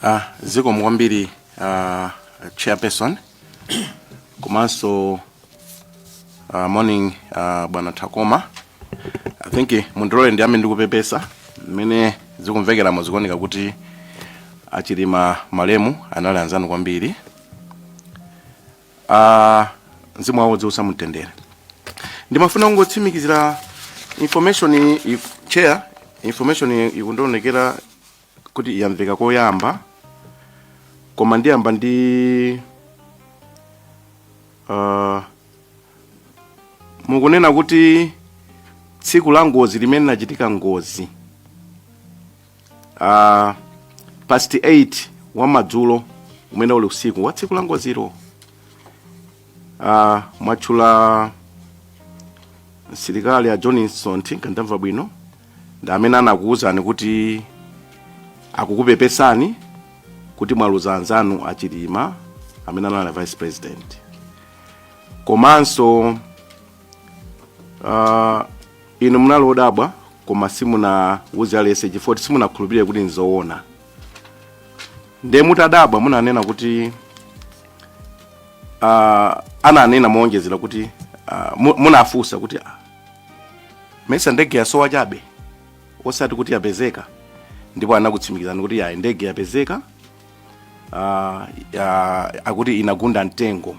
Ah, zikomo kwambiri ah, chairperson komanso ah, morning ah, bwana Takoma I think eh, mundilole ndiyambe ndikupepesa mmene zikumvekeramo zikuoneka kuti achilima malemu anali anzanu kwambiri uh, mzimu wawo uziusa mumtendere ndimafuna kungotsimikizira information iyi- chair information iyi ikundionekera kuti iyamveka koyamba koma ndiyamba ndi uh, mukunena kuti tsiku la ngozi limene linachitika ngozi uh, past 8 wa mmadzulo umene uli usiku wa tsiku la ngozilo uh, mwatchula msilikali a john nsonthi ngandamva bwino ndi amene anakuwuzani kuti akukupepesani kuti mwaluza anzanu achilima amene anali vice president komanso uh, inu munali odabwa koma simunauze aliyense chifukwa kuti simunakhulupirire kuti nzoona nde mutadabwa munanena kuti uh, ananena mowonjezera kuti uh, mu- munafunsa kuti ah, mesa ndege yasowa chabe osati kuti yapezeka ndipo anakutsimikizani kuti yayi ndege yapezeka ah, ah, akuti inagunda mtengo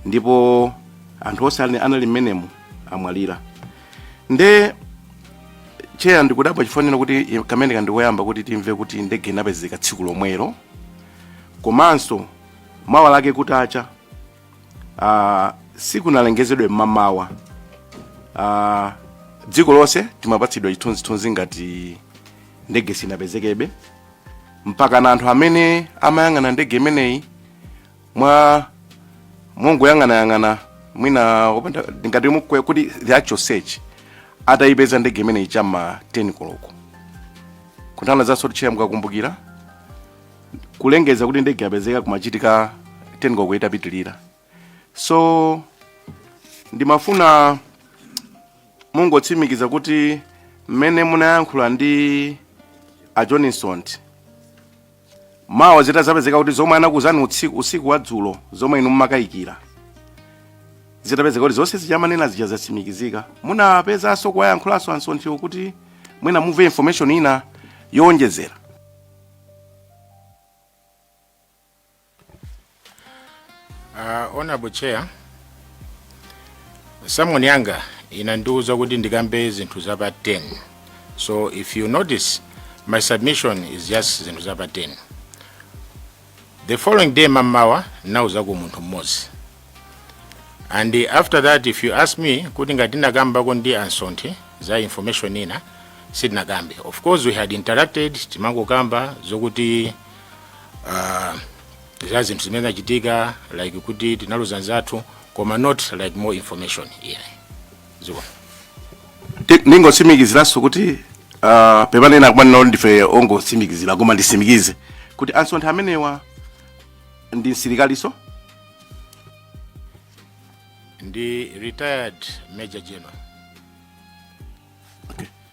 ndipo anthu onse ali- anali mmenemo amwalira nde tcheya ndikudabwa chifaniziro kuti i- kamene kandikoyamba kuti timve kuti ndege inapezeka tsiku lomwelo komanso mawa lake kutacha ah, sikunalengezedwe mmamawa Ah, dziko lonse timapatsidwa chithunzithunzi ngati ndege sinapezekebe mpaka na anthu amene amayang'ana ndege imeneyi mwa mongoyang'anayang'ana mwina opanda ngati mukwe kuti the actual search atayipeza ndege imeneyi cha ma 10 koloko kutanthauzanso kuti tcheya mukakumbukira kulengeza kuti ndege yapezeka kumachitika 10 koloko itapitirira so ndimafuna mungotsimikiza kuti mmene munayankhula ndi a john nsonthi mawa zitazapezeka kuti zomwe anakuuzani utsiku usiku wa dzulo zomwe inu mumakayikira zitapezeka kuti zonse zija amanena zija zatsimikizika munapezanso kuwayankhulanso ansonthiwo kuti mwina mumve information ina yowonjezera Uh, honorable chair summon yanga inandiuza kuti ndikambe zinthu zapa 10 so if you notice my submission is just zinthu zapa 10 the following day mamawa ndinauzako munthu mmodzi and uh, after that if you ask me kuti ngati ndinakambako ndi a Nsonthe za information ina sitinakambe of course we had interacted timangokamba zokuti uh, za zinthu zimene zachitika like kuti tinaluza nzathu koma not like more information yeah. zikomo Ti- ndingotsimikiziranso kuti uh, pepani kumanena kuti ndife ongotsimikizira koma ndisimikize kuti a Nsonthe amenewa ndi msilikalinso ndi retired major general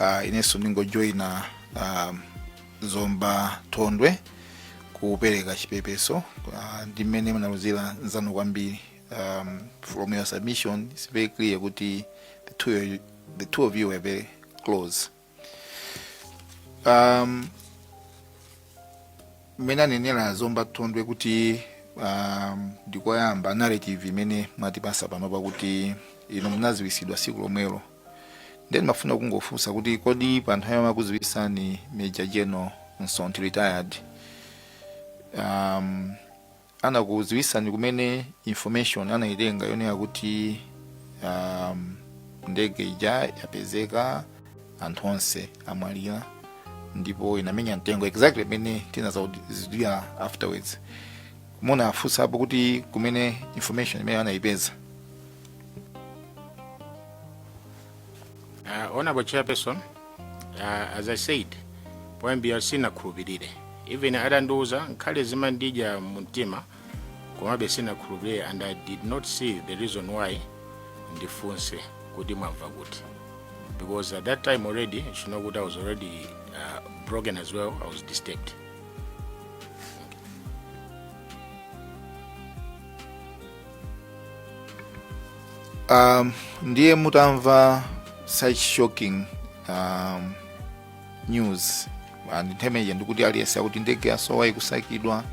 uh, inenso ndingojoyina uh, zomba thondwe kupereka chipepeso uh, ndi mmene munaluzira nzanu kwambiri um, from your submission it's very clear kuti the two, of you- the two of you were very close um, mmene anenera zomba thondwe kuti um, ndikoyamba kumva narrative imene mwatipasa pano pakuti inu munaziwisidwa siku lomwelo Ndiye ndimafuna kungofunsa kuti kodi pa nthawi yomwe akuziwisani Major General Nsonthe retired um, anakuziwisani kumene information anayitenga yonena kuti um, ndege ija yapezeka anthu onse amwalira ndipo inamenya mtengo exactly imene tinadzauzidwa afterwards munawafunsapo kuti kumene information imene anayipeza Uh, honorable chairperson uh, as i said poyambira sinakhulupirire even adandiuza ngakhale zimandidya mumtima komabe sinakhulupirire and i did not see the reason why ndifunse kuti mwamva kuti because at that time already you know kuti i was already uh, broken as well i was disturbed um, ndiye mutamva such shocking um, news and the major ndikuti aliyense akuti ndege yasowa ikusakidwa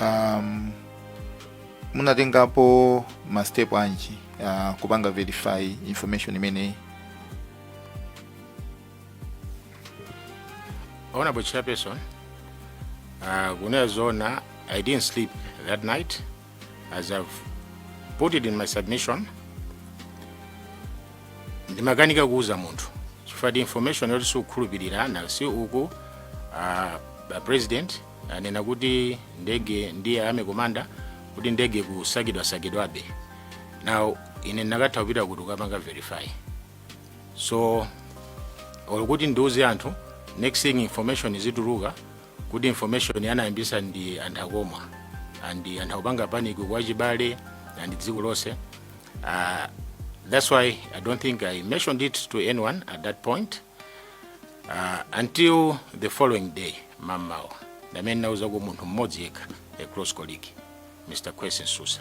um, munatengapo mastep anji uh, kupanga verify information imeneyi Honorable chairperson, uh, kunena zona, I didn't sleep that night as I've put it in my submission. Ndimakanika kuuza munthu chifukwa ndi information yoti sikukhulupirira na si uku uh, a president anena kuti ndege ndiye army commander akuti ndege ikusakidwasakidwabe now ine ndakatha kupita kuti kukapanga verify so or kuti ndiuze anthu next thing information izituluka kuti information anayambitsa ndi a Nthakomwa and anthu akupanga panic kwa achibale and dziko lonse uh, that's why i don't think i mentioned it to anyone at that point uh, until the following day mamawa ndi pamene nauza ku munthu mmodzi yekha a close colleague mr Kwesi Msusa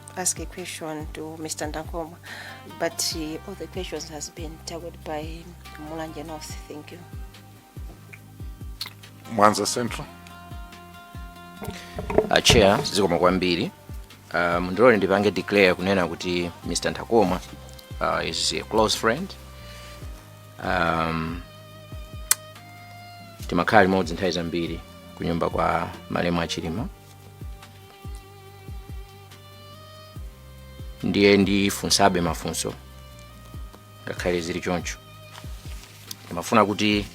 ask a question to Mr. Nthakomwa, but uh, all the questions has been tackled by Mulanje North. Thank you. Mwanza Central. Uh, chair zikomo kwambiri uh, mundilole ndipange declare kunena kuti mr Nthakomwa uh, is a close friend um, timakhala limodzi nthawi zambiri kunyumba kwa malemu a Chilima ndiye ndifunsabe mafunso ngakhale zili choncho ndimafuna kuti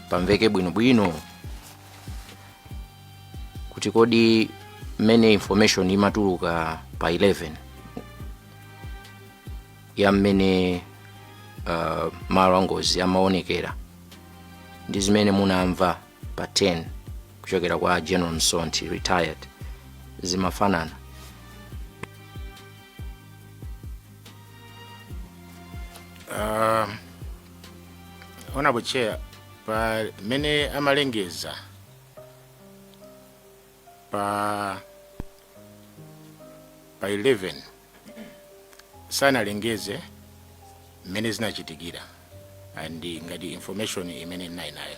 pamveke bwinobwino kuti kodi mmene information imatuluka pa 11 ya mmene uh, malo angozi amaonekera ndi zimene munamva pa 10 kuchokera kwa general msonthi retired zimafanana uh, honorable chair pamene amalengeza pa pa 11 sanalengeze mmene zinachitikira and ngati information imene ndinali nayo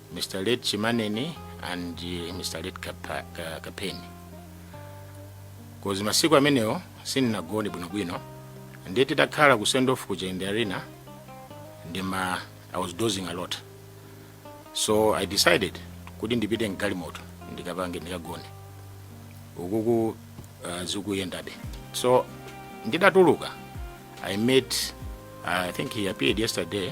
Mr. Late Chimaneni and uh, Mr. Late Kapa, uh, Kapheni. Cause masiku amenewo sindinagone bwinobwino ndiye titakhala ku send off ku Jende Arena ndima I was dozing a lot. So I decided kuti ndipite mgalimoto ndikapange ndikagone. Ukuku uh, zikuyendabe. So ndidatuluka I met I think he appeared yesterday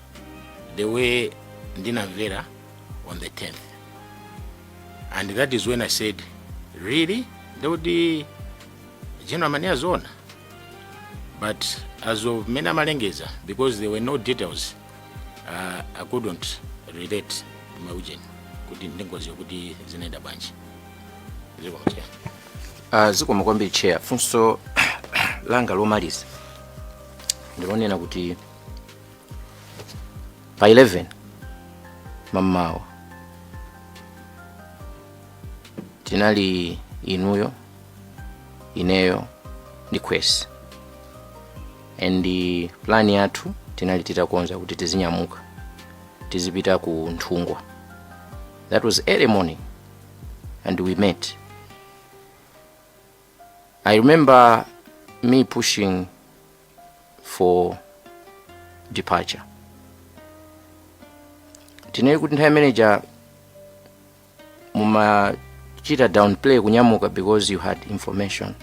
the way ndinamvera on the 10th and that is when i said really ndikuti general Maneya aziona but as of mmene amalengeza because there were no details uh, i couldn't relate maujeni kuti ndingoziwa kuti zinaenda bwanji zikomo chair Uh, zikomo kwambiri chair funso langa lomaliza ndilonena kuti pa 11 mamawa tinali inuyo ineyo ndi kwesi and plan yathu tinali titakonza kuti tizinyamuka tizipita ku nthungwa that was early morning and we met i remember me pushing for departure tinene kuti nthawi imeneja mumachita downplay kunyamuka because you had information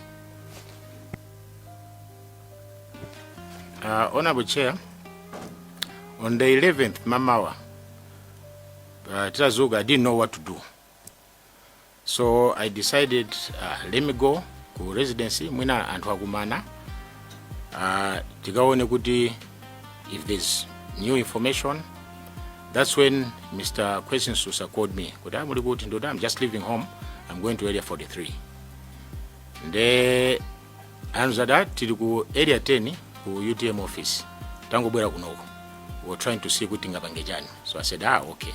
Uh, Honorable Chair, on the 11th mamawa uh, titazuka I didn't know what to do so i decided uh, let me go ku residency mwina anthu akumana uh, tikaone kuti if there's new information that's when mr question susa called me kuti amuli kuti ndoti i'm just leaving home i'm going to area 43 nde anzada tili ku area 10 ku utm office tangobwera kunoko we were trying to see kuti tingapange chani so i said ah okay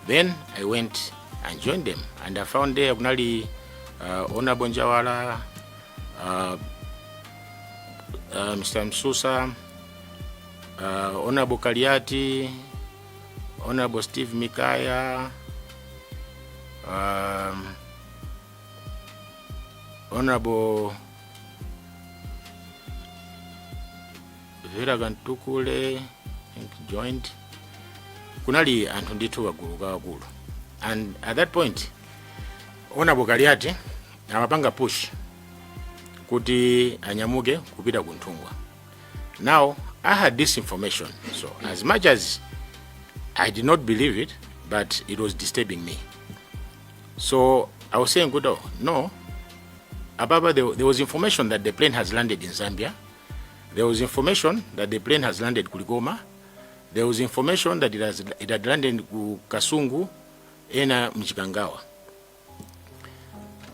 then i went and joined them and i found there kunali uh, honorable njawala uh, uh, mr msusa uh, honorable kaliati honorable steve mikaya um, honorable vera kamtukule think joint kunali anthu ndithu kagulu kakulu and at that point honorable kaliati amapanga push kuti anyamuke kupita ku nthungwa now i had this information so as much as i did not believe it but it was disturbing me So I was saying, good, oh, no. Ababa, there, there was information that the plane has landed in Zambia. There was information that the plane has landed Kuligoma. There was information that it, has, it had landed ku Kasungu ena Mchikangawa.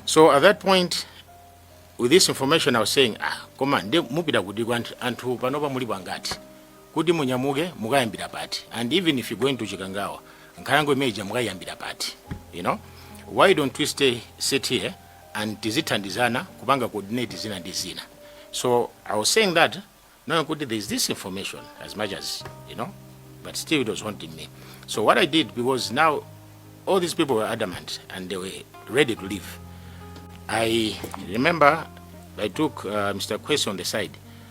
So at that point, with this information, I was saying, ah, come on, mupita kuti anthu panopa muli pangati. kuti munyamuke mukayambira pati and even if you going to chikangawa nkhalango imene ija mukayambira pati you know why don't we stay sit here and tizithandizana kupanga coordinate zina ndi zina so i was saying that knowing kuti there is this information as much as you know but still it was haunting me so what i did because now all these people were adamant and they were ready to leave I remember I took uh, Mr. Kwesi on the side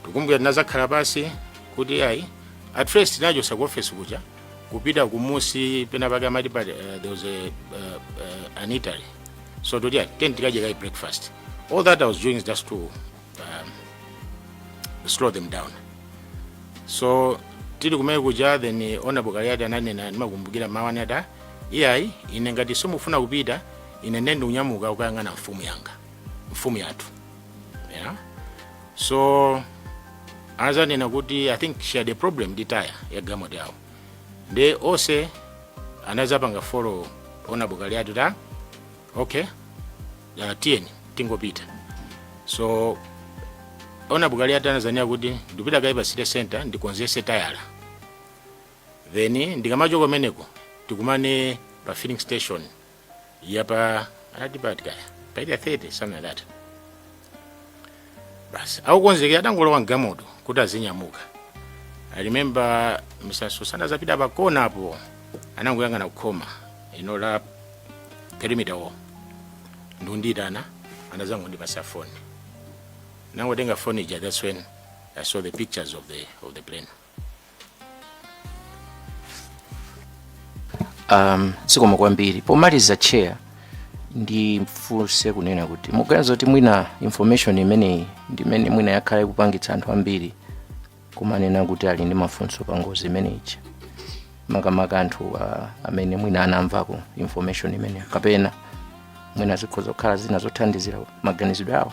ndikukumbukira tinazakhala pasi kuti ayi at first tinachoka ku office kuja kupita kumusi pena pake amati pali uh, there was a, uh, uh, an eatery so toti ayi tiyeni tikadye kaye breakfast all that i was doing is just to um, slow them down so tili kumene kuja then honorable kaliati ananena ndimakumbukira mawu anati "Ah, iyayi ine ngati simufuna kupita ine nde ndikunyamuka kukayang'ana mfumu yanga mfumu yathu yeah. so anazanena kuti i think she had a problem ndi tayala ya galimoto yawo nde onse anazapanga follow honorable kaliati ta okay uh, tiyeni tingopita so honorable kaliati anazanena kuti ndipita kaye pa city center ndikonzese tayala then ndikamachoka kumeneko tikumane pa filling station yapa anati pati kaya pa area 30 something like that basi akukonzekera atangolowa mgalimoto kuti azinyamuka i remember mr sosa anazapita pakona apo anangoyang'ana kukhoma ino la perimeter wall ndikundiitana anazangondipasa foni nangotenga foni ija that's when i saw the pictures of the, of the plane um, zikomo kwambiri pomaliza chair ndifunse kunena kuti muganiza kuti mwina information imeneyi ndimene mwina yakhala ikupangitsa anthu ambiri kumanena kuti ali ndi mafunso pa ngozi imeneyi makamaka anthu uh, amene mwina anamvako information imeneyo kapena mwina zikhoza kukhala zina zothandizira maganizidwe awo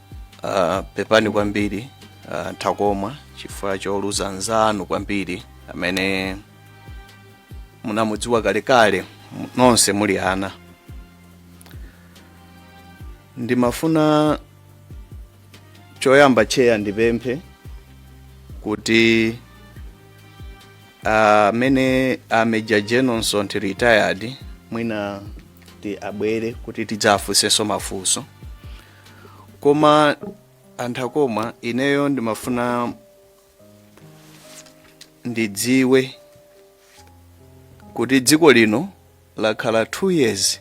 uh, pepani kwambiri uh, Nthakomwa chifukwa choluza mnzanu kwambiri amene munamudziwa kalekale m- nonse muli ana ndimafuna choyamba cheya ndipemphe kuti amene uh, a major jenonson ti retired mwina ti abwere kuti tidzafunsenso mafunso koma a Nthakomwa ineyo ndimafuna ndidziwe kuti dziko lino lakhala 2 years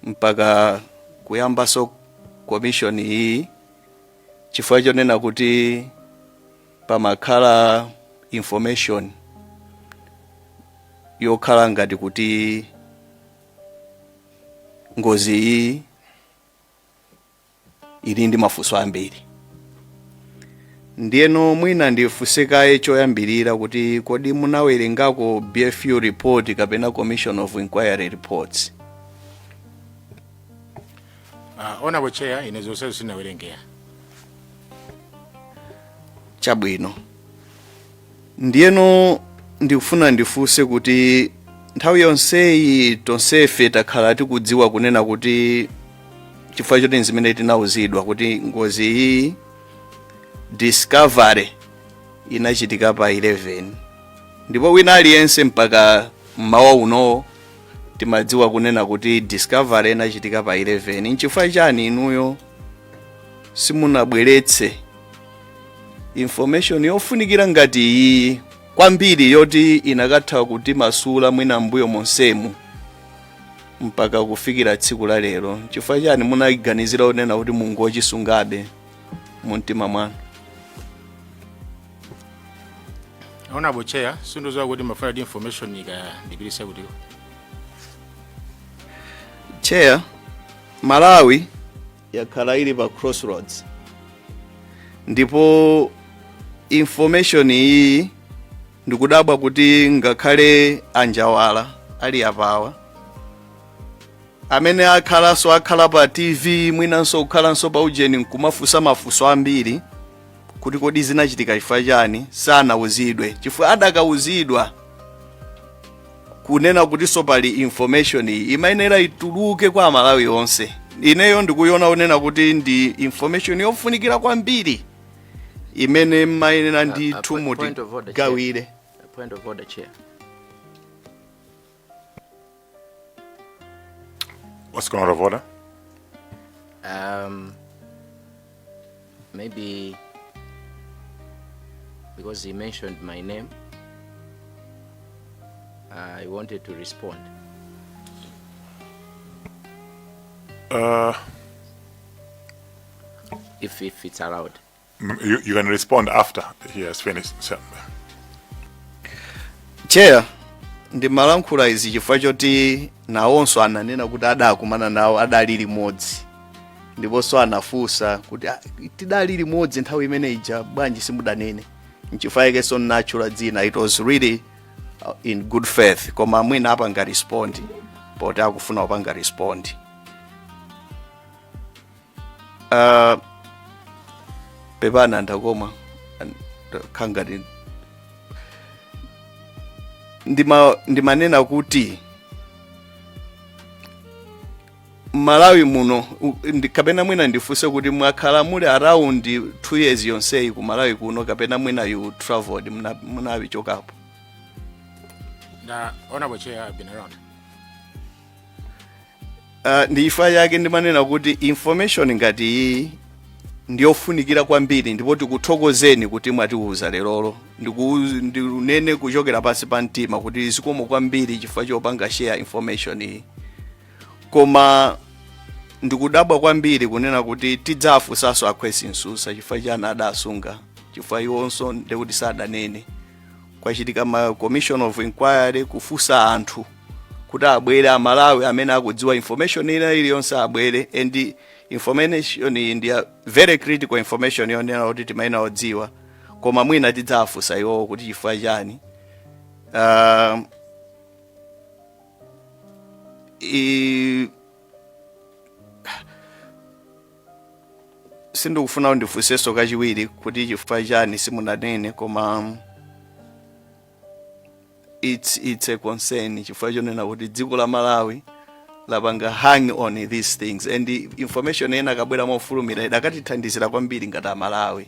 mpaka kuyambaso commission iyi chifukwa chonena kuti pamakhala information yokhala ngati kuti ngozi iyi ili ndi mafunso ambiri ndiyeno mwina ndifunse kaye choyambirira kuti kodi munawerengako BFU report kapena commission of inquiry reports uh, honorable chair ine zonsezo sinawerenge chabwino Ndiyeno ndikufuna ndifunse kuti nthawi yonseyi tonsefe takhala tikudziwa kunena kuti chifukwa choti nzimene tinauzidwa kuti ngozi iyi discovery inachitika pa 11 ndipo wina aliyense mpaka mmawa unowo timadziwa kunena kuti discovery inachitika pa 11 nchifukwa chani inuyo simunabweretse information yofunikira ngati iyi kwambiri yoti inakatha kutimasula mwina mbuyo monsemu mpaka kufikira tsiku la lero chifukwa chani munayiganizira kunena kuti mungochisungabe mu mtima mwanu honorable chair sindidziwa kuti mafuna kuti information ndikayipereka kutiko chair malawi yakhala ili pa crossroads ndipo information iyi ndikudabwa kuti ngakhale a Njawala ali apawa amene akhalanso akhala pa tv mwinanso kukhalanso pa ujeni nkumafunsa mafunso ambiri kuti kodi zinachitika chifukwa chani sanauzidwe chifukwa anakauzidwa kunena kutinso pali information iyi imayenera ituluke kwa amalawi onse ineyo ndikuiona unena kuti ndi information yofunikira kwambiri imene mmayenera ndi a- a thumu point of order, Chair. tigawire A point of order, Chair. What's going on, Voda? Um, maybe because he mentioned my name, I wanted to respond. Uh, if, if it's allowed. Mm, you, you can respond after he has finished. Chair, ndimalankhula izi chifukwa choti nawonso ananena kuti adakumana nawo adali limodzi ndiponso anafunsa kuti "Ah, tidali limodzi nthawi imene ija bwanji simudanene nchifukwa yakenso ndinatchula dzina it was really uh, in good faith koma mwina apanga respond poti akufuna kupanga respond uh, pepani ndakoma kangati ndima ndimanena kuti mmalawi muno u- ndi- kapena mwina ndifunse kuti mwakhala muli around 2 years yonseyi ku malawi kuno kapena mwina you traveled muna- munapichokapo na honorable chair I've been around Uh, ndichifukwa chake ndimanena kuti information ngati iyi ndiyofunikira kwambiri ndipo tikuthokozeni kuti mwatiuza lerolo Ndiku- ndinene kuchokera pansi pa mtima kuti zikomo kwambiri chifukwa chopanga share information iyi koma ndikudabwa kwambiri kunena kuti tidzafunsanso a Khwesi Msusa chifukwa chani adasunga chifukwa iwonso ndekuti sadanene kwachitika ma commission of inquiry kufunsa anthu kuti abwere amalawi amene akudziwa information ina iliyonse abwere and information iyi ndi ya very critical information yonena kuti timayenera kudziwa koma mwina tidzafunsa iwowo kuti chifukwa chani uh, I... sindikufuna ndifunsenso kachiwiri kuti chifukwa chani simunanene koma it's, it's a concern chifukwa chonena kuti dziko la malawi lapanga hang on these things and information ena kabwera mofulumira idakatithandizira kwambiri ngati amalawi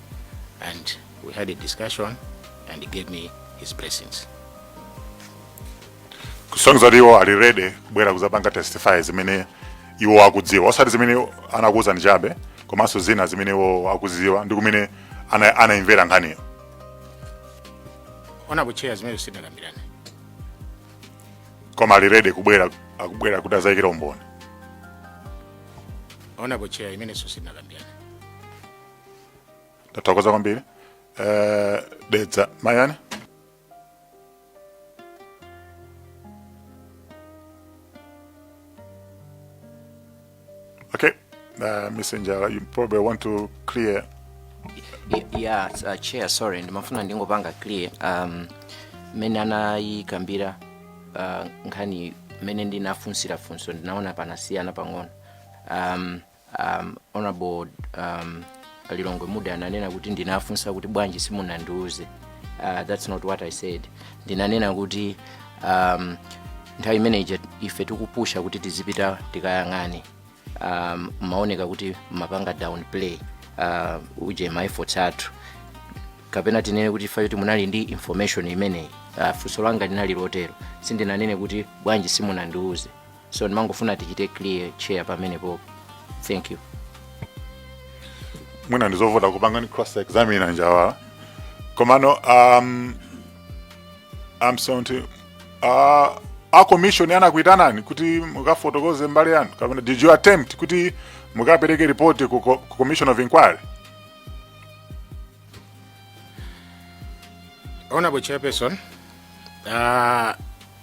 and we had a discussion and he gave me his blessings kusonyeza kuti iwo ali ready kubwera kudzapanga testify zimene iwo akudziwa osati zimene anawuzidwa ndi chabe komanso zina zimene iwo akuziwa ndi kumene ana- anayimvera nkhaniyo ona kucheya zimene sitinakambirane koma ali ready kubwera akubwera kuti azayikira umboni ona kucheya imenenso sitinakambirane tathokoza kwambiri eh, dedza mayani okay uh, messenger you probably want to clear Y- yeah uh, chair sorry ndimafuna ndingopanga clear um mmene anayikambira uh, nkhani mmene ndinafunsira funso ndinaona panasiyana pang'ono um, um, honorable um, lilongwe mude ananena kuti ndinafunsa kuti bwanji simunandiuze uh, that's not what i said ndinanena kuti um, nthawi imene ija ife tikupusha kuti tizipita tikayang'ane um, mumaoneka kuti mumapanga down play uh, uje ma efforts athu kapena tinene kuti if at all munali ndi information imeneyi uh, funso langa linali lotero sindinanene kuti bwanji simunandiuze so ndimangofuna tichite clear chair pamenepo thank you mwina ndizovuta kupanganso cross examine a njawala komano um, I'm sorry to, uh, a commission anakuitanani kuti mukafotokoze mbali yanu kapena did you attempt kuti mukapereke report ku, co- ku commission of inquiry honorable chairperson uh,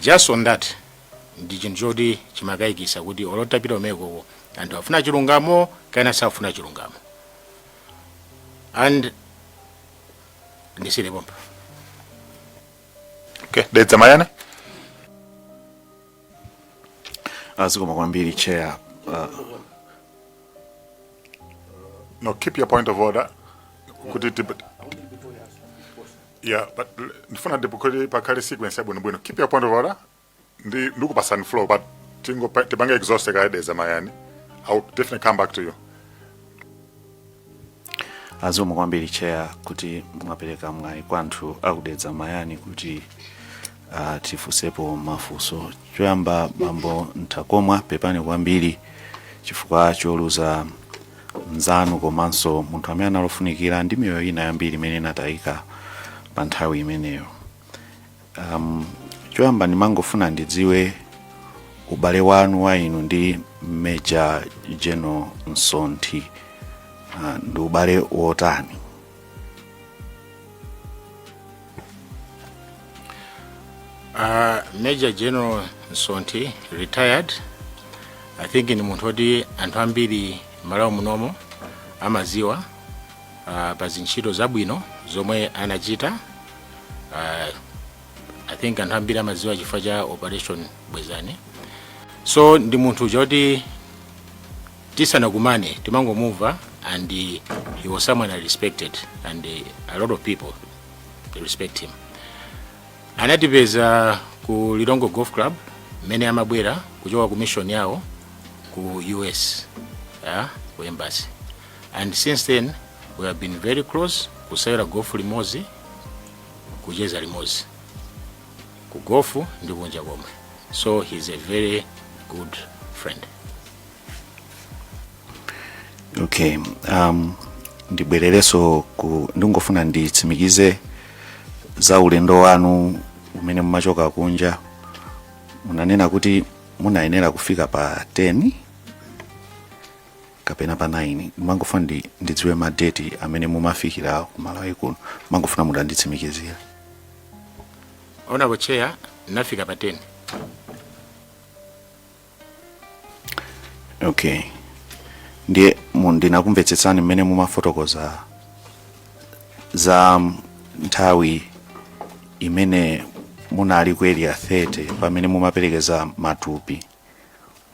just on that ndi chinthu choti chimakaikisa kuti olo titapita kumenekoko anthu afuna chilungamo kapena safuna chilungamo and ndisiyile pompa okay dedza mayani zikomo kwambiri chair uh, no keep your point of order kuti tip- Yeah, but l- ndifuna ndithu kuti pakhale sequence yabwino bwino. Keep your point of order. Ndi ndikupatsani floor but tingo tipange exhaust kaye Dedza Mayani. I will definitely come back to you. zikomo kwambiri chair kuti mwapereka mwayi kwa anthu aku Dedza Mayani kuti uh, tifunsepo mafunso choyamba bambo Nthakomwa pepani kwambiri chifukwa choluza mnzanu komanso munthu amene anali ofunikira ndi miyoyo ina yambiri imene inatayika pa nthawi imeneyo um, choyamba ndimangofuna ndidziwe ubale wanu wa inu ndi major general Msonthi uh, ndi ubale wotani Uh, Major General Msonthi retired I think ndi munthu oti anthu ambiri Malawi munomo amaziwa uh, pa ntchito zabwino zomwe anachita uh, I think anthu ambiri amaziwa chifukwa cha operation bwezani so ndi munthu choti tisanakumane timangomumva and he was someone i respected and a lot of people respect him anatipeza ku Lilongwe golf club mmene amabwera kuchoka ku mission yawo ku us yeah, ku embassy and since then we have been very close kusewera gofu limodzi kucheza limodzi ku gofu ndi kunja komwe so he's a very good friend okay um, ndibwererenso ku ndingofuna nditsimikize za ulendo wanu umene mumachoka kunja munanena kuti munayenera kufika pa 10 kapena pa 9 mangofuna ndi, ndidziwe madeti amene mumafikira ku malawi kuno mangofuna mutanditsimikizira honourable chair ndinafika pa 10 okay ndiye mu- ndinakumvetsetsani mmene mumafotokoza za mm, nthawi imene munali ku area 30 pamene mumaperekeza matupi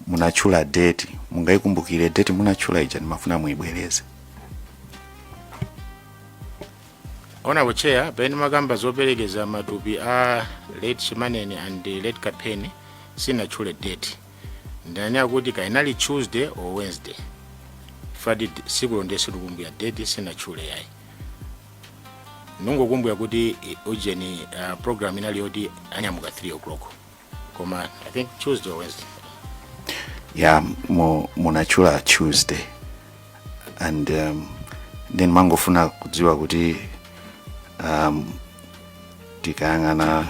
munatchula date mungayikumbukire date munatchula ija ndimafuna muyibwereze honourable chair pamene ndimakamba zoperekeza matupi a late chimaneni and late Kapheni sinatchule date ndinanena kuti kaya inali tuesday or wednesday fati tsikulo nde sindikukumbukira date sinatchule yayi ndikungokumbukira kuti ujeni uh, program inali yoti anyamuka 3 o'clock koma i think tuesday or wednesday yeah mu- munatchula tuesday and um, then ndimangofuna kudziwa kuti um, tikayang'ana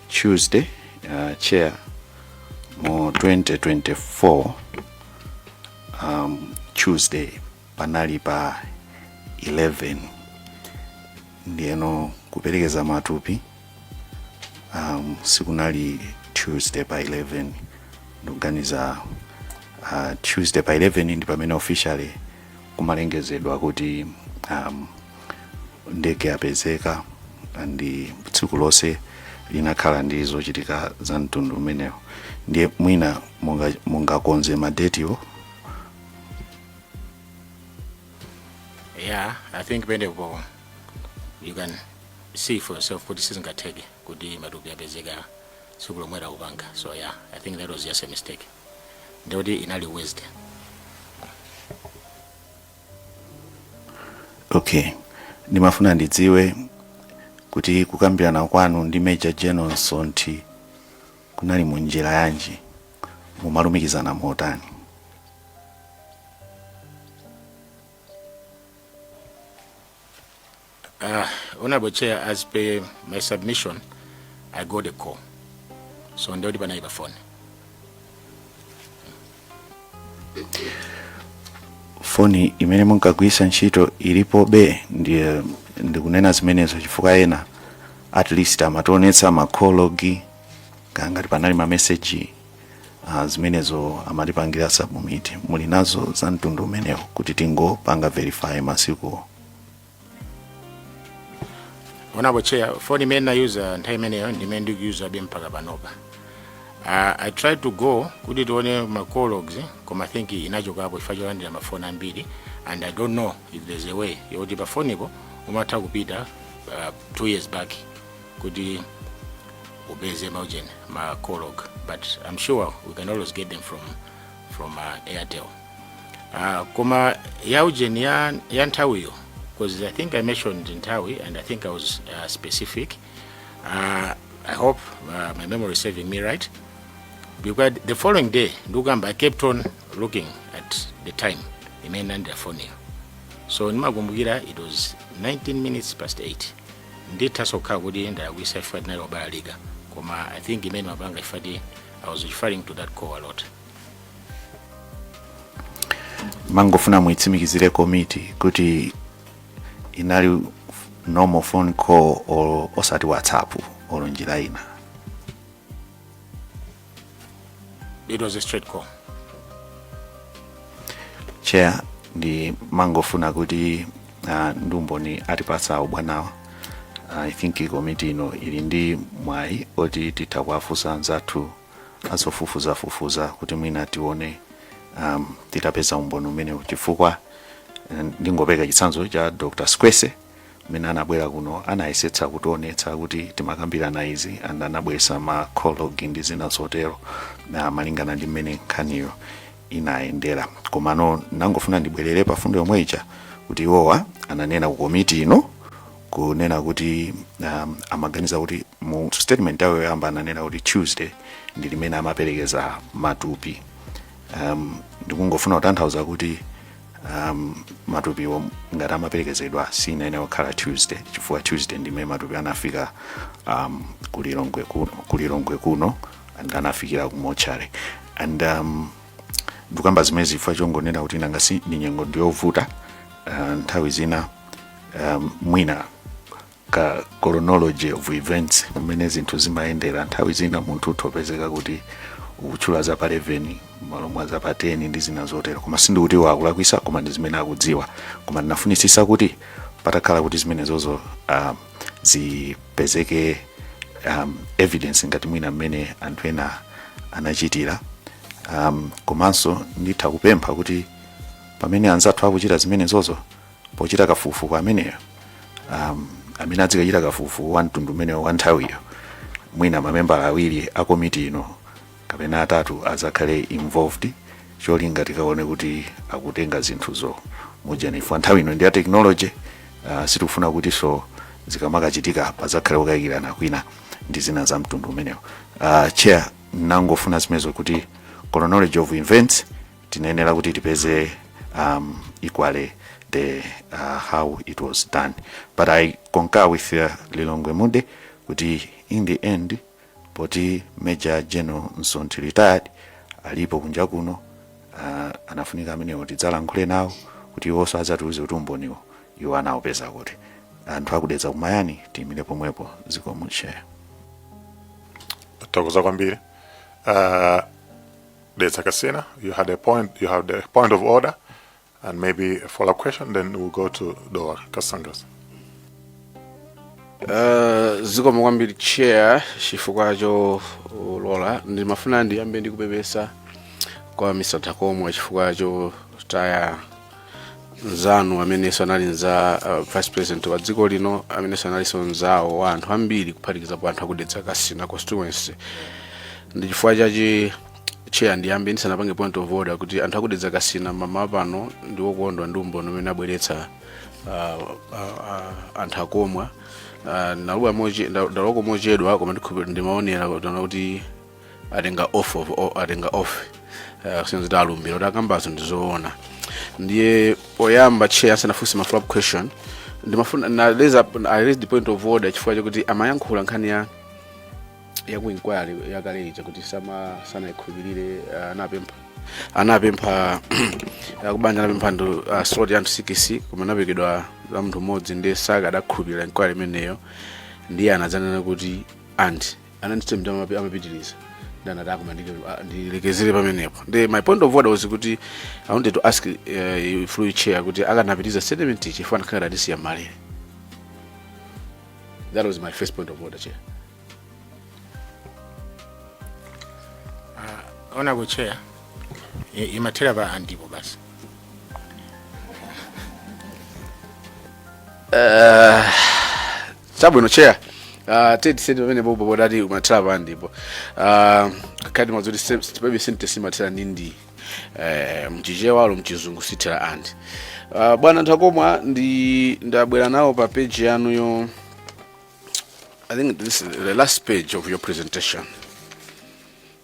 tuesday uh, cha mu 2024 um, tuesday panali pa 11 ndiyeno kuperekeza matupi um, sikunali tuesday pa 11 ndikuganiza uh, tuesday pa 11 ndi pamene officially kumalengezedwa kuti um, ndege yapezeka and tsiku lonse linakhala ndi zochitika za mtundu umenewo ndiye mwina munga- mungakonze madetiwo yeah i think penapo you can see for yourself kuti sizingatheke kuti matupi apezeka tsiku lomwe takupanga so yeah i think that was just a mistake ndikuti inali wednesday okay ndimafuna ndidziwe kuti kukambirana kwanu ndi major general sonthi kunali mu njira yanji mumalumikizana motani Uh, honorable chair as per my submission i got a call so ndiye kuti panali pa phone foni imene munkagwiritsa ntchito ilipobe ndikunena zimenezo chifukwa ena at least amationetsa ma call log ngati panali mameseji uh, zimenezo amatipangira submit muli nazo za mtundu umenewo kuti tingopanga verify masikuwo honorable chair foni imene ndinayuza nthawi imeneyo ndimene ndikuyuzabe mpaka panopa uh, i tried to go kuti tione ma call logs koma think inachokapo chifukwa cholandira mafoni ambiri and i don't know if there's a way yoti pafonipo umatha kupita uh, two years back kuti upeze maujeni ma call log but i'm sure we can always get them from, from uh, airtel Ah, koma ya ujeni ya, ya nthawiyo because i think i mentioned nthawi and i think i was uh, specific uh, i hope uh, my memory is serving me right because the following day ndikukamba i kept on looking at the time imene ndinalandira phone iyo so ndimakumbukira it was 19 minutes past 8 ndithaso kukhala kuti ndalakwitsa chifukwa tinali obalalika koma i think imene ndimapanga chifukwa i was referring to that call a lot mangofuna muitsimikizire komiti kuti inali normal phone call olo osati whatsapp olo njira ina it was a straight call chair ndi mangofuna kuti uh, ndi umboni atipatsa abwanawa i think komiti ino ili ndi mwayi oti titha kuwafunsa anzathu azofufuzafufuza kuti mwina tione um, titapeza umboni umenewu chifukwa eh, ndingopeka chitsanzo cha dr squese mmene anabwera kuno anayesetsa kutionetsa kuti timakambirana izi and anabweretsa ma call log ndi zina zotero malingana ndi mmene nkhaniyo inayendera komano nangofuna ndibwerere pa fundo yomwe ija kuti iwowa ananena ku komiti ino kunena kuti um, amaganiza kuti mu statement yawo yoyamba ananena kuti tuesday ndi mmene amaperekeza matupi um, ndikungofuna kutanthauza kuti um, matupiwo ngati amaperekezedwa sinayenera kukhala tuesday chifukwa tuesday ndimene matupi anafika um, kulilongwe kuno kulilongwe kuno and anafikira ku mortuary and um, ndikamba zimenezi chifukwa chongonena kuti nanga si ndi nyengo ndiyovuta uh, nthawi zina um, mwina ka chronology of events mmene zinthu zimayendera nthawi zina munthu utha kupezeka kuti ukutchula za pa 11 malo mwa za pa 10 ndi zina zotero koma sindikuti iwo akulakwitsa koma ndi zimene akudziwa koma ndinafunitsitsa kuti patakhala kuti zimenezozo um, zipezeke um, evidence ngati mwina mmene anthu ena anachitira um, komanso nditha kupempha kuti pamene anzathu akuchita zimenezozo pochita kafukufuku ameneyo um, amene adzikachita kafukufuku wa mtundu umenewo wa nthawiyo mwina mamembala awiri a komiti ino kapena atatu adzakhale involved cholinga tikaone kuti akutenga zinthuzo mwanji chifukwa nthawi ino ndi ya technology uh, sitikufuna kutinso zikamakachitika padzakhale kukayikirana kwina ndi zina za mtundu umenewo uh, chair nangofuna zimenezo kuti chronology of events tinayenera kuti tipeze um, equally the uh, how it was done but i concur with uh, lilongwe mpenu kuti in the end poti major general msonthi retired alipo kunja kuno uh, anafunika amenewo tidzalankhule nawo kuti iwonso adzatiuze kuti umboniwo iwo anawupeza kuti anthu aku dedza mayani tiyimire pomwepo zikomo chair tathokoza kwambiri uh, Dedza Kasina, you had a point, you had a point of order, and maybe a follow-up question, then we'll go to Dowa Kasangadzi. Uh, zikomo kwambiri chair chifukwa cholola ndimafuna ndiyambe ndikupepesa kwa a Mtakomwa chifukwa chotaya mzanu amenenso anali mnza uh, vice president wa dziko lino amenenso analinso mzawo wa anthu ambiri kuphatikizapo anthu aku Dedza Kasina constituency ndi chifukwa chake chair ndiyambe ndisanapange point of order kuti anthu aku Dedza Kasina mmawa uno ndi wokondwa ndi umboni umene abweretsa uh, uh, uh, a Mtakomwa uh, ndalowako mochedwa koma ndikhupe- ndimaonera kuti atenga oath of o- atenga oath eh, kusonyeza zoti alumbira kuti akambazo ndizoona ndiye oyamba chair ndisanafunse ma follow up question ndimafuna ndi raise up I raise the point of order chifukwa chakuti amayankhula nkhani ya yaku inquiry yakale ija kuti sama sanaikhulupirire uh, anapempha anapempha uh, kubanja anapempha ndi uh, slot ya anthu 6 koma anapatsidwa ya munthu mmodzi ndiye sakadakhulupirira inquiry imeneyo ndiye anadzanena kuti and and ndiye mmene amapi- amapitiriza ndiye anati ah koma ndike- a- ndilekezere pamenepo ndiye my point of order was kuti i wanted to ask uh, through you chair kuti akanapitiriza statement ija chifukwa anakhala ngati atisiya m'malere that was my first point of order chair koma chair imathera pa andipo basi chabwino chair uh, statement pamenepo poti imathera pa ndipo uh, timadziwa zoti palibe sentence imathera ndi ndi eh, mchichewa olo mchizungu sithera and uh, bwana Mtakomwa ndi ndabwera nawo pa page yanuyo i think this is the last page of your presentation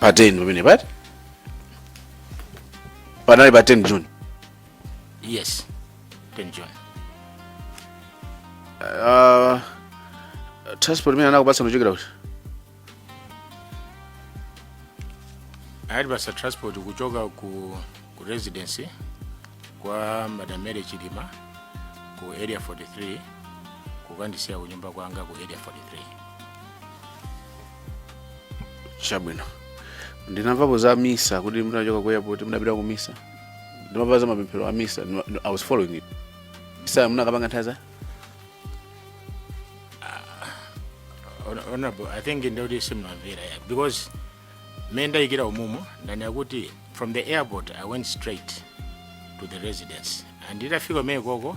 pa 10 pamene pati panali pa 10 june yes 10 june uh, transport imene anakupatsa kuchokera kuti anatipatsa transport kuchoka ku, ku residence kwa madam mary chilima ku area 43 kukandisiya kunyumba kwanga ku area 43 chabwino ndinamvapo za misa kuti munachoka ku airport munapita ku misa ndimamva za mapemphero a misa ndima- nd- i was following it misa munakapanga nthawi za Hon- honorable i think kuti simunamvere yeah. because me ndaikira umboni ndanena kuti from the airport i went straight to the residence and nditafika kumeneko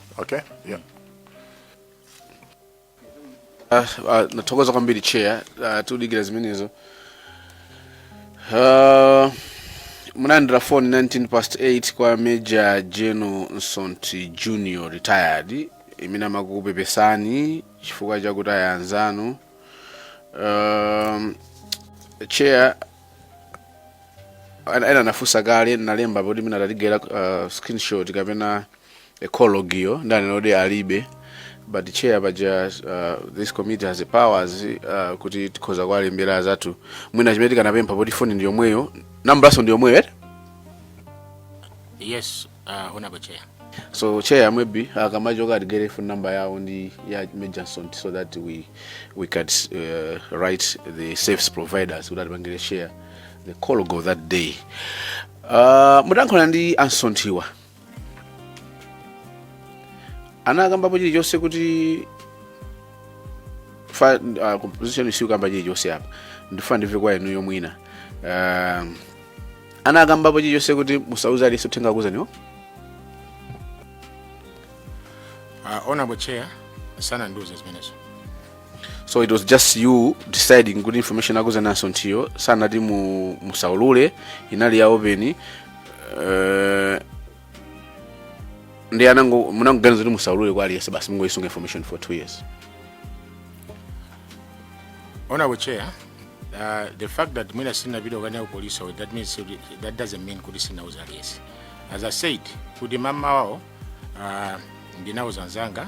Okay, yeah. Ah, ah, tathokoza kwambiri chair ah, tudikira zimenezo Ah, munalandira phone 19 past 8 kwa major general Msonthi junior retired imene amakupepesani chifukwa chakuti ayanzanu um, chair ana- ena anafunsa kale alemba poti mwina titagetta uh, screenshot kapena call log-yo ndanena kuti alibe but chair paja uh, this committee has the powers uh, kuti tikhoza kuwalembera azathu mwina chimene tikanapempha poti foni ndi yomweyo nambulaso ndi yomweyo eti yes uh, honorable chair so chair maybe akamachoka atigayire phone number yawo ndi ya Major Msonthi so that we, we can uh, write the service providers kuti atipangire share the call log that day uh, mudayankhulana ndi a Msonthiwa anakambapo chilichonse kuti fa uh, composition sikukamba chilichonse apa ndifuna ndimve kwa inuyo mwina uh, anakambapo chilichonse kuti musauze aliyense uthenga akuuzaniwo uh, honorable chair sanandiuze zimenezo so it was just you deciding kuti information yokuuzani a Msonthiyo sanati mu, musaulule inali ya open uh, ndi anango munangoganiza kuti musaulule kwa aliyense basi mungoyisunga information for two years honorable chair uh, the fact that mwina sinapita kukanena ku police awo, that means kuti- that doesn't mean kuti sinauza aliyense as i said kuti mama wawo uh, ndinauza nzanga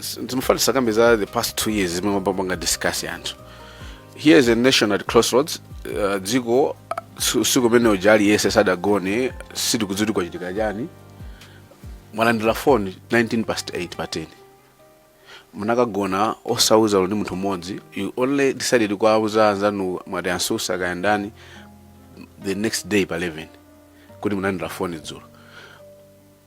sindikufuna tikambe za the past two years zimene mwapanga discuss anthu here is a nation at crossroads uh, dziko si- usiku umene uja aliyense sadagone sitikudziwa kuti kwachitika chani mwalandira foni 19 past 8 pa 10 munakagona osauza ndi munthu mmodzi you only decided kuwauza anzanu mwati ansusa kayandani the next day pa 11 kuti munalandira foni dzulo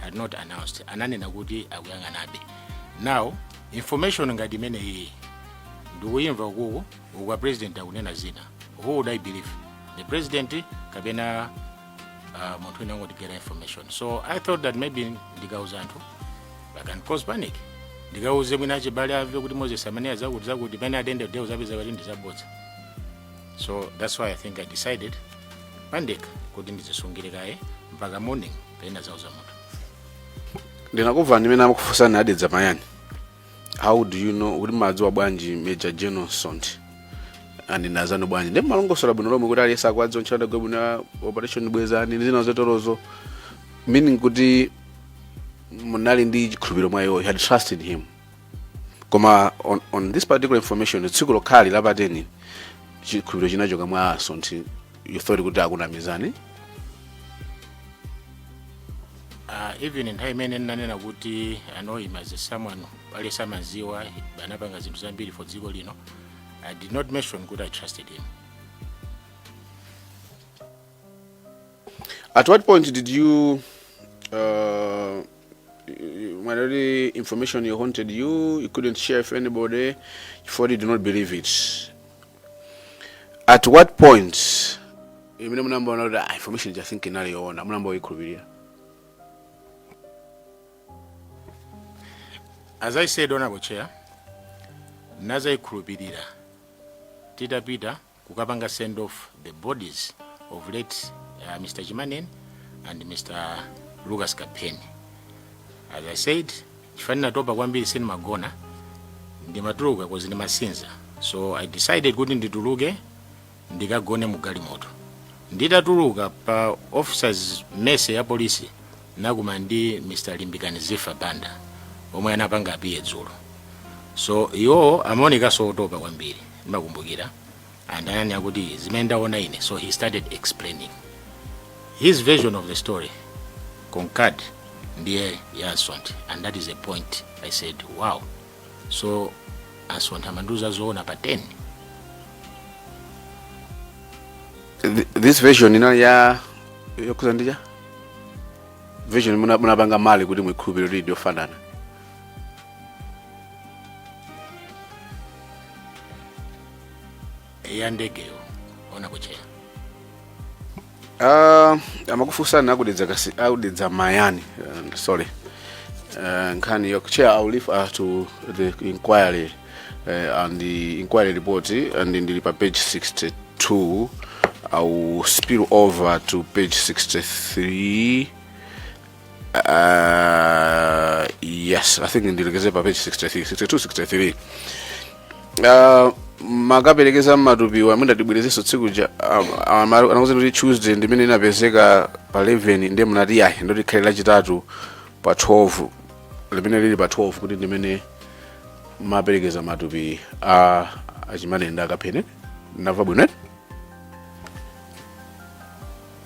had not announced ananena kuti akuyang'anabe now information ngati imeneyi ndikuyimva uku uku a president akunena zina who would i believe the president kapena uh, munthu wina wangotigayira information so i thought that maybe ndikauza anthu i can cause panic ndikauze mwina achibale amve kuti moses amene azakuti zakuti pene pa ndege de uzapeza kuti ndizabodza so that's why i think i decided pandekha kuti ndizisungire kaye mpaka morning pena zauza munthu ndinakuvani imene amakufunsani a dedza mayani how do you know kuti mmawadziwa bwanji major general msonthi andinazano bwanji ndiye mmalongosola bwino lomwe kuti aliyense akuwadziwa ntchito adagwira bwino ya operation bwezani ndi zina zoterozo meaning kuti munali ndi chikhulupiriro mwa iwo you had trust in him koma on, on this particular information tsiku lokhali la pa 10 chikhulupiriro chinachoka mwa a msonthi you thought kuti akunamizani uh, even nthawi imene ndinanena kuti i know him as someone pali samadziwa anapanga zinthu zambiri for dziko lino i did not mention kuti i trusted him At what point did you uh, when already information you haunted you, you couldn't share with anybody, before you do not believe it. At what point imene munambaona kuti ah, information ija think inali yoona munamba uyikhulupirira as i said onako chair nazayikhulupirira titapita kukapanga send off the bodies of late uh, Mr. Chimaneni and Mr. Lucas Kapheni. As I said, chifukwa natopa kwambiri sinimagona ndimatuluka 'cause ndimasinza so I decided kuti ndituluke ndikagone mu galimoto nditatuluka pa officers mess ya polisi nakumana ndi Mr. Limbikani Zifa Banda omwe anapanga appear dzulo so iwo amaonekanso otopa kwambiri ndimakumbukira and ananena kuti zimene ndaona ine so he started explaining his version of the story concurred ndi ya a Msonthi and that is a point i said wow so a Msonthi amandiuza zoona pa 10 Th- this version inali ya yokhudza ndija version muna- munapanga marry kuti muikhulupirire kuti ndiyofanana ya ndegeyo honourable chair Ah, amakufunsani a ku dedza kasi a ku dedza mayani uh, sorry uh, nkhaniyo chair i will refer uh, to the inquiry uh, and the inquiry report and ndili pa page 62 i will spill over to page 63 Uh, yes, I think ndilekeze pa page 63, 62, 63. Uh, mmakaperekeza matupiwa amene ndatibwerezeso tsiku ja anakuza kuti tuesday ndimene inapezeka pa 11 ndiye munati ayi ndoti khale lachitatu pa 12 limene lili pa 12 kuti ndimene mmaperekeza matupi a a chimaneni ndi a kapheni nava bwino eti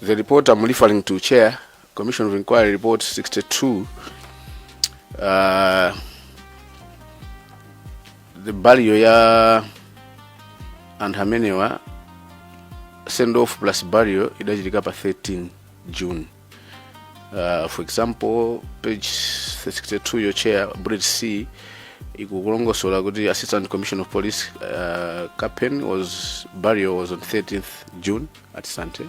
The report I'm referring to, Chair, Commission of Inquiry Report 62, uh, the burial ya anthu amenewa send off plus burial idachitika pa 13 June Uh, for example page 62 yo chair bridge c ikukulongosola kuti assistant commissioner of police uh, capen was burial was on 13th june at sante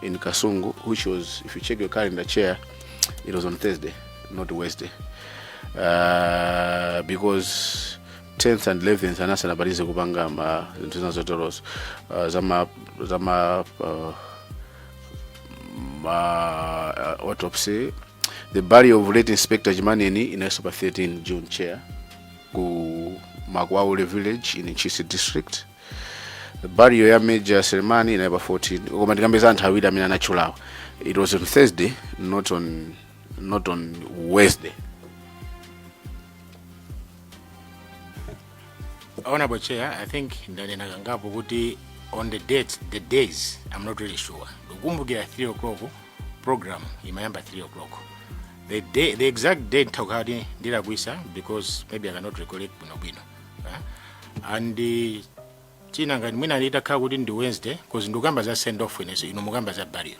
in kasungu which was if you check your calendar chair it was on thursday not wednesday uh, because 10th and 11th anasanabalize kupanga ma zinthu zina zoterozo uh, zama zama uh, ma uh, autopsy the burial of late inspector chimaneni inalinso pa 13 june chair ku makwaule village in ntchisi district the burial ya major selemani inali pa 14 koma tikambe za anthu awiri amene anatchulawa it was on thursday not on not on wednesday honorable chair i think ndanena kangapo kuti on the dates the days i'm not really sure ndikukumbukira 3 o'clock program imayamba 3 o'clock the, day, the exact date ntha kukhala kuti ndilakwisa because maybe i cannot recollect bwinobwino uh, and uh, chinanakhala ngati mwina litakhala kuti ndi wednesday because ndikukamba za send off ineyo inu mukamba za burial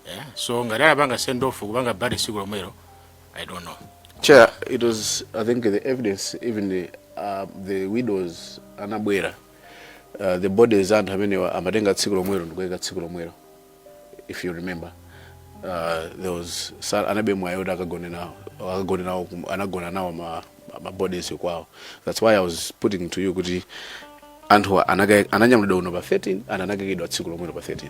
yeah. so ngati anapanga send off kupanga bury siku lomwelo i don't know chair it was i think the evidence even the, uh, the widows anabwera uh, the bodies anthu amenewa amatengedwa tsiku lomwelo ndikuika tsiku lomwelo if you remember uh, there was analibe mwayi kuti akagone nawo akagone nawo anagona nawo ma, ma bodies kwawo that's why i was putting to you kuti anthu ananyamulidwa kuno pa 13 and anakaikidwa tsiku lomwelo pa 13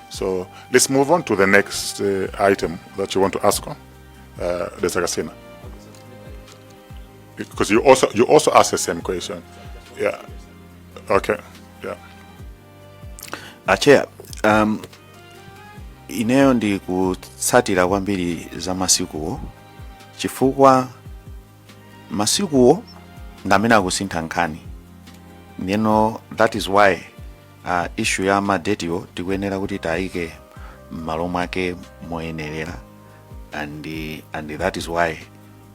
So let's move on to the next uh, item that you want to ask on, uh, Dedza Kasina. Because you also you also asked the same question. Yeah. Okay. Yeah. Uh, Chair, um, ineyo ndikutsatira kwambiri za masikuwo chifukwa masikuwo ndi amene akusintha nkhani ndeno that is why uh, issue ya madetiwo tikuyenera kuti tiyike m'malo mwake moyenerera and, and that is why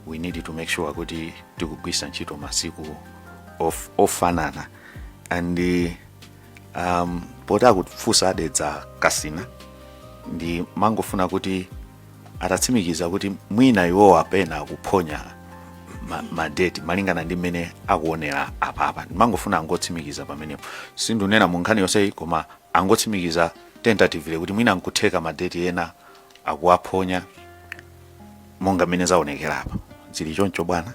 we need to make sure kuti tikugwisa ntchito masiku of, ofanana and um, poti akufunsa a Dedza Kasina ndimangofuna kuti atatsimikiza kuti mwina iwowa pena akuphonya ma- madeti malingana ndi mmene akuonera apapa ndimangofuna angotsimikiza pamenepo sindinena mu nkhani yonseyi koma angotsimikiza tentatively kuti mwina nkutheka madeti ena akuwaphonya monga mmene zaonekera apa zili choncho bwana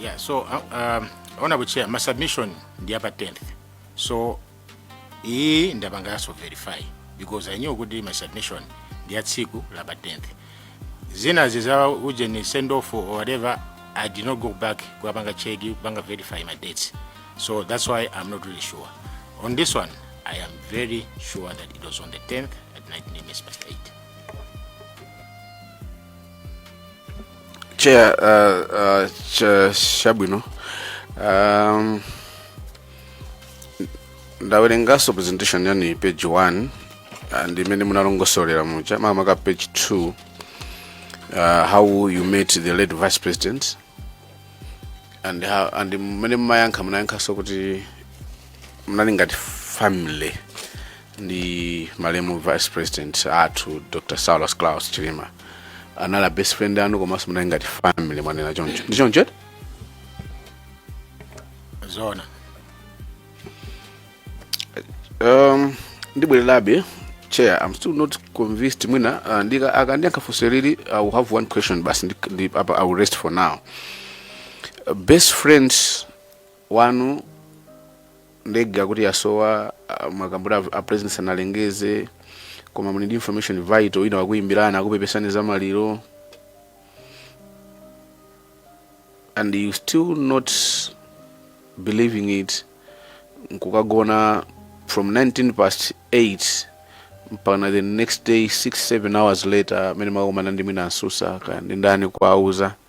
Yeah, so uh, um, honorable chair, my submission ndi apa 10th. So iyi ndapanga yaso verify because I knew kuti my submission ndi ya tsiku la pa 10th. Zina zizawa uje ni send off or whatever, I did not go back kuwapanga check kupanga verify my dates. So that's why I'm not really sure. On this one, I am very sure that it was on the 10th at 19 minutes past 8. chair uh, uh, cha- chabwino um, ndawerenganso presentation yanu page 1 and mmene munalongosolera muja makamaka page 2 uh, how you met the late vice president and, how, and mmene mumayankha munayankhanso kuti munali ngati family ndi malemu vice president athu dr saulos klaus chilima anali a best friend anu komanso munali ngati family mwanena choncho ndi choncho eti? zona um, ndibwererabe chair i'm still not convinced mwina uh, ndika akandiyankha funso ili i will have one question basi ndi- ndi- apa i will rest for now uh, best friends wanu ndege akuti yasowa ah, mwakambura a president sanalengeze koma muli ndi information vital ina wakuyimbirani akupepesani za maliro and you still not believing it nkukagona from 19 past 8 mpaka the next day 6 7 hours later amene mwakumana ndi mwina a Msusa kaya ndi ndani kuwauza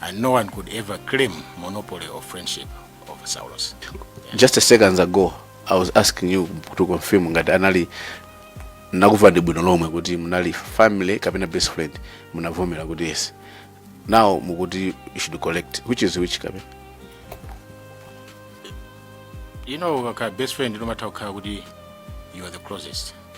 and no one could ever claim monopoly of friendship of saulos just a seconds ago i was asking you to confirm ngati anali nakuva ndi bwino lomwe kuti munali family kapena best friend munavomera kuti yes now mukuti you should correct which is which kapena you know ukakhala best friend umatha kukhala kuti you are the closest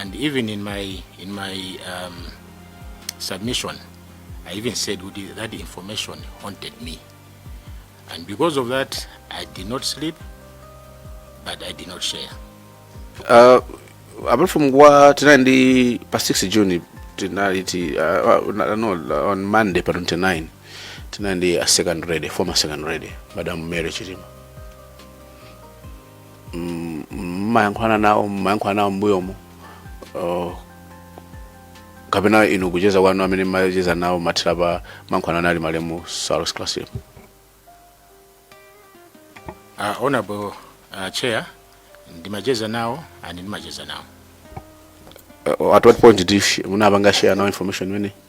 and even in my in my um, submission i even said kuti that information haunted me and because of that i did not sleep but i did not share Uh, apart from kuwa tinali ndi pa 6 june tinali ti uh, uh, no, no, on monday pa 29 tinali ndi a second lady former second lady madam mary chilima mm, mmayankhulana nawo mmayankhulana nawo mbuyomo uh, kapena inu kucheza kwanu amene mmacheza nawo mathera pa mayankhulana ndi malemu Saulos Klaus Uh, honorable uh, chair ndimacheza nawo and ndimacheza nawo uh, at what point did you sh- munapanga share nawo information imene